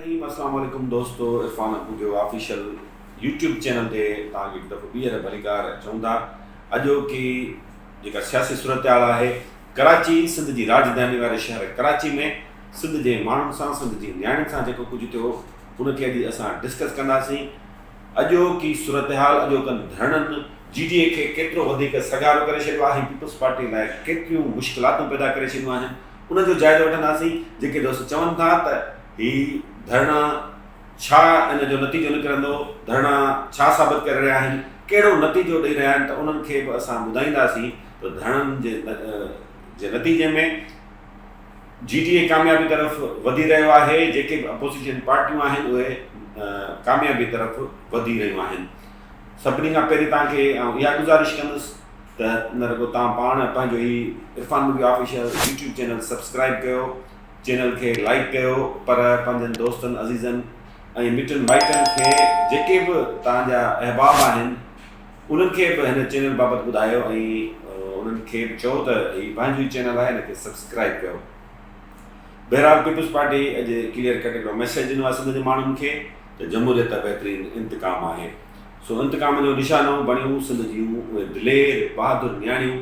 الرحيم اسلام عليڪم دوستو Irfan Ahujo official YouTube channel تي توهان کي هڪ دفعو ٻيهر ڀليڪار چئون ٿا اڄوڪي جيڪا سياسي صورتحال آهي ڪراچي سنڌ جي راجڌاني واري شهر ڪراچي ۾ سنڌ جي ماڻهن سان سنڌ جي نياڻين سان جيڪو ڪجهه ٿيو ان کي اڄ اسان ڊسڪس ڪنداسين اڄوڪي صورتحال اڄوڪن ڌرڻن جي ڊي اي کي ڪيترو وڌيڪ سگهارو ڪري ڇڏيو آهي پيپلز پارٽي لاء ڪيتريون مشڪلاتون پيدا ڪري ڇڏيون آهن ان جو جائزو وٺنداسين، جيڪي دوست چون ٿا ته هي ڌرڻا ڇا ان جو نتيجو نڪرندو، ڌرڻا ڇا ثابت ڪري رهيا آهن، ڪهڙو نتيجو ڏئي رهيا آهن ته انهن کي به اسان ٻڌائينداسين ته ڌرڻن جي نتيجي ۾ جي ڊي اي ڪاميابي طرف وڌي رهيو آهي، جيڪي به اپوزيشن پارٽيون آهن اهي ڪاميابي طرف وڌي رهيون آهن، سڀني کان پهرين توهان کي آئون اها گذارش ڪندس ته ان کان پوء توهان پاڻ پنهنجو هي Irfan movie official YouTube channel subscribe ڪيو چينل کي لائيڪ ڪيو پر پنهنجن دوستن عزيزن ۽ مٽن مائٽن کي جيڪي به توهان جا احباب آهن انهن کي به هن چينل بابت ٻڌايو ۽ انهن کي به چئو ته هي پنهنجو ئي چينل آهي هن کي سبسڪرائب ڪيو بهرحال پيپلز پارٽي اڄ ڪليئر ڪٽ هڪڙو ميسيج ڏنو آهي سنڌ جي ماڻهن کي ته جمهوريت بهترين انتقام آهي سو انتقام جو نشانو بڻيون سنڌ جون اهي دلير بهادر نياڻيون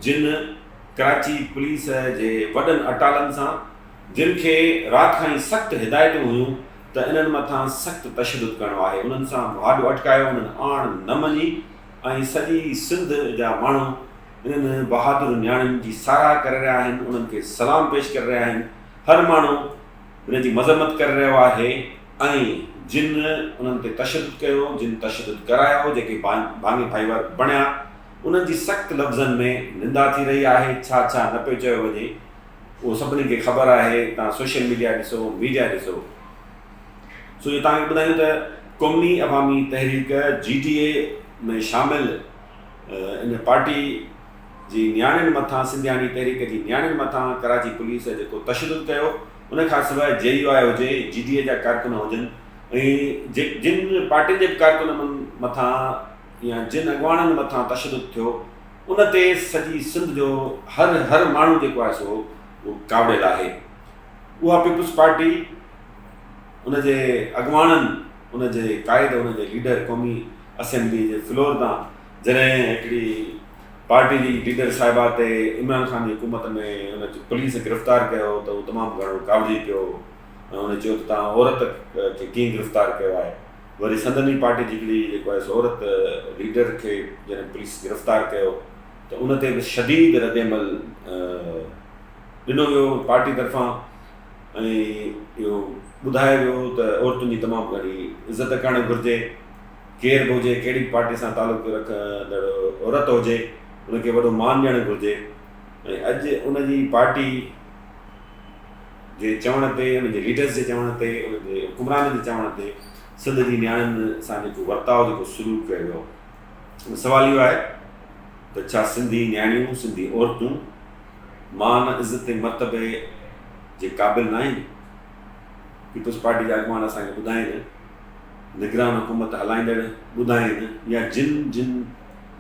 جن ڪراچي پوليس جي وڏن اٽالن سان جن کي رات کان ئي سخت هدايتون هيون ته انهن مٿان سخت تشدد ڪرڻو آهي انهن سان مهاڏو اٽڪايو انهن آڻ نه مڃي ۽ سڄي سنڌ جا ماڻهو انهن بهادر نياڻين جي ساراهه ڪري رهيا آهن انهن کي سلام پيش ڪري رهيا آهن هر ماڻهو انهن جي مذمت ڪري رهيو آهي. ۽ جن انهن تي تشدد ڪيو، جن تشدد ڪرايو، جيڪي باني ڀائيور بڻيا، انهن جي سخت لفظن ۾ نندا ٿي رهي آهي، ڇا ڇا نه پيو چيو وڃي، اهو سڀني کي خبر آهي، توهان سوشل ميڊيا ڏسو، ميڊيا ڏسو. سو جو توهان کي ٻڌايون ته قومي عوامي تحريڪ، جي ٽي اي، ۾ شامل ان پارٽي جي نياڻين مٿان، سنڌياڻي تحريڪ جي نياڻين مٿان ڪراچي پوليس جيڪو تشدد ڪيو، ان کان سواء جي يو آء هجي، جي ڊي اي جا ڪارڪن هجن ۽ جن پارٽين جي به ڪارڪنن مٿان يا جن اڳواڻن مٿان تشدد ٿيو ان تي سڄي سنڌ جو هر هر ماڻهو جيڪو آهي سو ڪاوڙيل آهي. اها پيپلز پارٽي ان جي اڳواڻن ان جي قائد ان جي ليڊر قومي اسيمبلي جي فلور تان جڏهن هڪڙي پارٽي جي ليڊر صاحبه تي عمران خان جي حڪومت ۾ ان کي پوليس گرفتار ڪيو هو ته هو تمام گهڻو ڪاوڙجي پيو ۽ هن چيو ته تان عورت کي ڪيئن گرفتار ڪيو آهي وري سندن ئي پارٽي جي هڪڙي جيڪو آهي سو عورت ليڊر کي جڏهن پوليس گرفتار ڪيو ته ان تي به شديد ردعمل ڏنو ويو پارٽي طرفان ۽ اهو ٻڌايو ويو ته عورتن جي تمام گهڻي عزت ڪرڻ گهرجي ڪير به هجي، ڪهڙي به پارٽي سان تعلق رکندڙ عورت هجي، ان کي وڏو مان ڏيڻ گهرجي ۽ اڄ ان جي پارٽي جي چوڻ تي، ان جي ليڊرز جي چوڻ تي، ان جي حڪمرانن جي چوڻ تي سنڌ جي نياڻين سان جيڪو ورتاء، جيڪو سلوڪ ڪيو ويو آهي. سوال اهو آهي ته ڇا سنڌي نياڻيون، سنڌي عورتون مان، عزت ۽ مرتبي جي قابل ناهن؟ پيپلز پارٽي جا اڳواڻ اسان کي ٻڌائين ته، نگران حڪومت هلائيندڙ ٻڌائين يا جن جن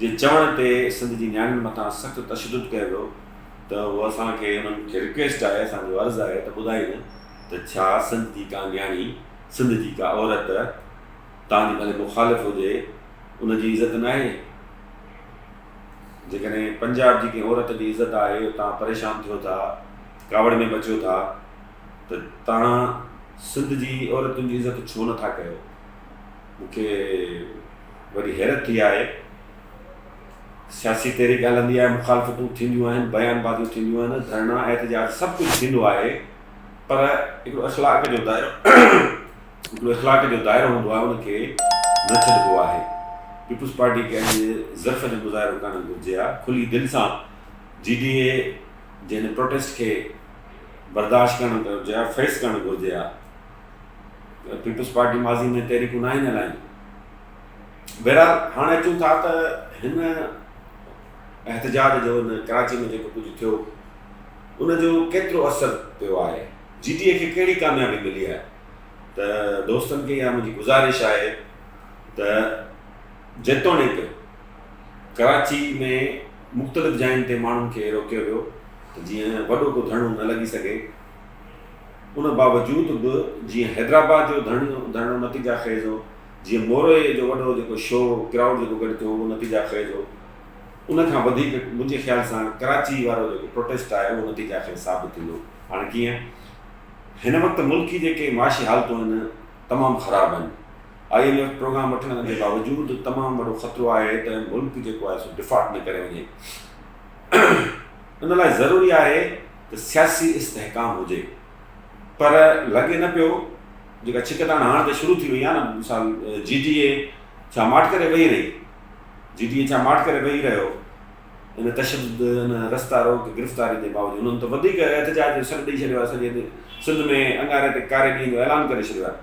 جي چوڻ تي سنڌ جي نياڻين مٿان سخت تشدد ڪيو ويو ته اهو اسان کي انهن کي رڪويسٽ آهي اسان جو عرض آهي ته ٻڌائين ته ڇا سنڌ جي ڪا نياڻي سنڌ جي ڪا عورت توهان جي ڀلي مخالف هجي ان جي عزت ناهي جيڪڏهن پنجاب جي ڪنهن عورت جي عزت آهي توهان پريشان ٿيو ٿا ڪاوڙ ۾ مچيو ٿا. ته توهان سنڌ جي عورتن جي عزت ڇو نه ٿا ڪيو؟ مون کي وڏي حيرت ٿي آهي. سياسي تحريڪ هلندي آهي، مخالفتون ٿينديون آهن، بيان بازيون ٿينديون آهن، ڌرڻا، احتجاج سڀ ڪجهه ٿيندو آهي پر هڪڙو اخلاق جو دائرو هڪڙو اخلاق جو دائرو هوندو آهي ان کي نه ڇڏبو آهي. پيپلز پارٽي کي اڄ ضعف جو مظاهرو ڪرڻ گهرجي ها، کلي دل سان جي ڊي اي جي هن پروٽيسٽ کي برداشت ڪرڻ گهرجي ها فيس ڪرڻ گهرجي ها پيپلز پارٽي ماضي ۾ تحريڪون ناهن هلايون بهرحال هاڻي اچون ٿا ته هن احتجاج جو هن ڪراچي ۾ جيڪو ڪجهه ٿيو ان جو ڪيترو اثر پيو آهي جي ٽي اي کي کي ڪاميابي ملي آهي ته دوستن کي اها منهنجي گذارش آهي ته جيتوڻيڪ ڪراچي ۾ مختلف جاين تي ماڻهن کي روڪيو ويو ته جيئن وڏو ڪو ڌرڻو نه لڳي سگهي ان باوجود به جيئن حيدرآباد جو ڌرڻو نتيجا خيز هو جيئن مورئي جو وڏو جيڪو شو ڪرائوڊ جيڪو گڏ ٿيو اهو نتيجا خيز هو ان کان وڌيڪ منهنجي خيال سان ڪراچي وارو جيڪو پروٽيسٽ آهي اهو نتيجا خيز ثابت ٿيندو هاڻي ڪيئن هن وقت ملڪ جي جيڪي معاشي حالتون آهن تمام خراب آهن آء ايم ايف پروگرام وٺڻ جي باوجود تمام وڏو خطرو آهي ته ملڪ جيڪو آهي سو ڊفالٽ نه ڪري وڃي ان لاء ضروري آهي ته سياسي استحڪام هجي پر لڳي نه پيو جيڪا ڇڪتاڻ هاڻ ته شروع ٿي وئي آهي نه مثال جي ڊي اي ڇا ماٺ ڪري ويهي رهي جي ڊي اي ڇا ماٺ ڪري ويهي رهيو ان تشدد ان رستا روڪ گرفتاري جي باوجود انهن ته وڌيڪ احتجاج جو سڏ ڏيئي ڇڏيو آهي سڄي سنڌ ۾ انگاري تي ڪاري ڏينهن جو اعلان ڪري ڇڏيو آهي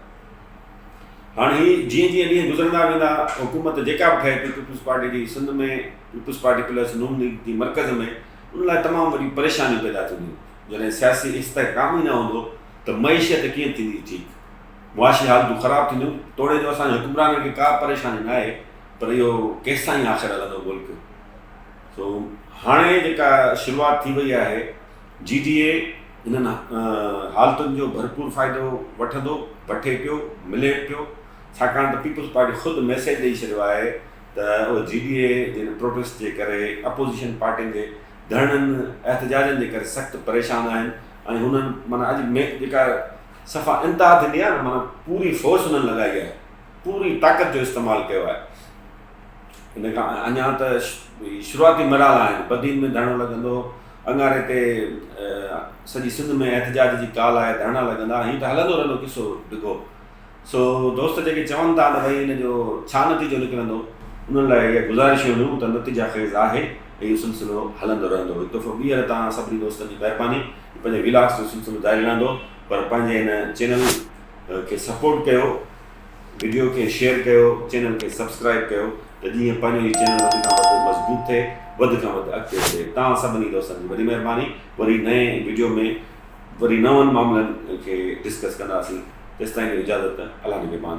هاڻ هي جيئن جيئن ڏينهن گذرندا ويندا حڪومت جيڪا به ٺهي ٿي پيپلز پارٽي جي سنڌ ۾ پيپلز پارٽي پلس نون ليگ جي مرڪز ۾ ان لاء تمام وڏي پريشانيون پيدا ٿينديون جڏهن سياسي استحڪام ئي نه هوندو ته معيشيت ڪيئن ٿيندي ٺيڪ معاشي حالتون خراب ٿينديون توڙي جو اسان جي حڪمرانن کي ڪا پريشاني نه آهي پر اهو ڪيستائين آخر هلندو ملڪ سو هاڻي جيڪا شروعات ٿي وئي آهي جي ڊي اي انهن حالتن جو ڀرپور فائدو وٺندو، وٺي پيو، ملي به پيو، ڇاڪاڻ ته پيپلز پارٽي خود ميسيج ڏئي ڇڏيو آهي ته اهي جي ڊي اي جن پروٽيسٽ جي ڪري، اپوزيشن پارٽين جي ڌرڻن، احتجاجن جي ڪري سخت پريشان آهن ۽ هنن معنيٰ اڄ ميڪ جيڪا صفا انتها ٿيندي آهي نه معنيٰ پوري فورس هنن لڳائي آهي، پوري طاقت جو استعمال ڪيو آهي. ان کان اڃا ته شروعاتي مراحل آهن، بدين ۾ ڌرڻو لڳندو، اڱاري تي سڄي سنڌ ۾ احتجاج جي ڪال آهي ڌرڻا لڳندا هيئن ته هلندو رهندو قصو ڊگهو سو دوست جيڪي چون ٿا ته ڀئي ان جو ڇا نتيجو نڪرندو انهن لاء اها گذارش هونديون ته نتيجا خيز آهي ۽ اهو سلسلو هلندو رهندو هڪ دفعو ٻيهر تان سڀني دوستن جي مهرباني جو پنهنجي ويلاگس جو سلسلو جاري رهندو پر پنهنجي هن چينل کي سپورٽ ڪيو. وڊيو کي شيئر ڪيو چينل کي سبسڪرائب ڪيو ته جيئن پنهنجو هي چينل وڌ کان وڌ مضبوط ٿئي وڌ کان وڌ اڳتي وڌي توهان سڀني دوستن جي وڏي مهرباني وري نئين وڊيو ۾ وري نون معاملن کي ڊسڪس ڪنداسين تيستائين ڏيو اجازت الله نگهبان.